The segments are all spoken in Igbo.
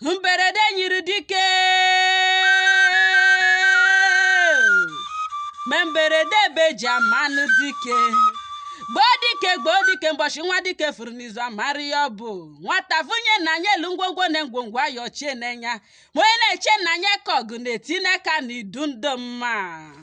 mberede nyiri dike ma mberede ebe e ji amanụ dike gboo dike gboo dike mbọshị nwa dike furu n'izu amara ya ọ bụ nwata funye nna anyị elu ngwongwo na ngwongwo ayọchie n'enya ma onye na-eche nna anyị ka ọgụ na-eti n'aka na idu ndụ mma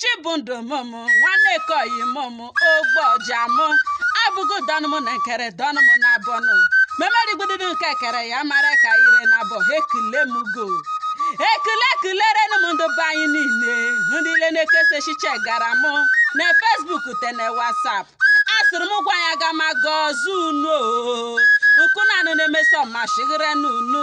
chibundụ mụmụ nwanne ka oyi mụmụ ogbu ọja mụ abụgo dọnụ mụ na nkere dọnụ mụ na abọnụ memerigbududu nke kere ya mara ka ire na abọ ha ekele m gị ekele ekelerenu m ndị be anyị niile ndị ile na-ekesa echiche gara mụ na Facebook te na WhatsApp asịrị m gwa ya ga ma gọọzu unu o nkụ na anụ na-emeso ma shighere n'unu